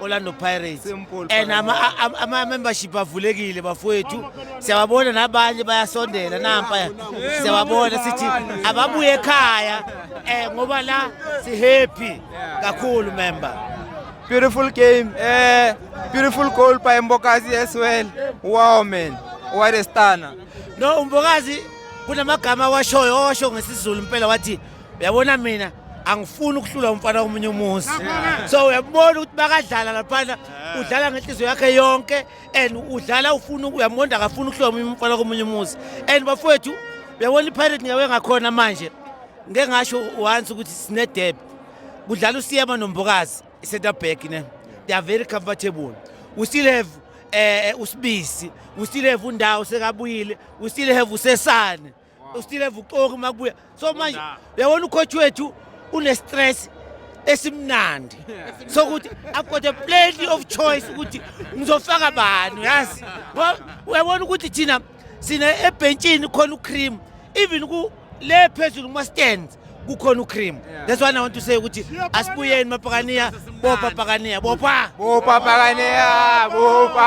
Orlando Pirates and ama-membership avulekile bafowethu siyababona nabanye bayasondela nampaya siyababona sithi ababuye ekhaya um ngoba la si-happy kakhulu member beautiful game uh, beautiful goal by mbokazi as well wow man what a stunner no umbokazi kunamagama awashoyo owasho ngesizulu impela wathi uyabona mina angifuni ukuhlula umfana omunye umuzi so uyabona ukuthi bakadlala laphana udlala ngenhliziyo yakhe yonke and udlala ufuna uyamonda akafuni ukuhlula omunye umfana komunye umuzi and bafowethu uyabona ipirate ngiyawe ngakhona manje ngeke ngasho once ukuthi sinedebe kudlala usiyema nombokazi i-center back ne they are very comfortable we still have eh, eh usibisi we still have undawo sekabuyile we still have usesane ustill have uxoki uma kubuya so manje uyabona ucoach wethu une-stress esimnandi sokuthi i've got a plenty of choice ukuthi ngizofaka bani yazi uyabona ukuthi thina sina ebhentshini khona ucream even le phezulu kuma-stands kukhona ucream that's why i want to say ukuthi asibuyeni mapakaniya bopa pakaniya bopa bopa pakaniya bopa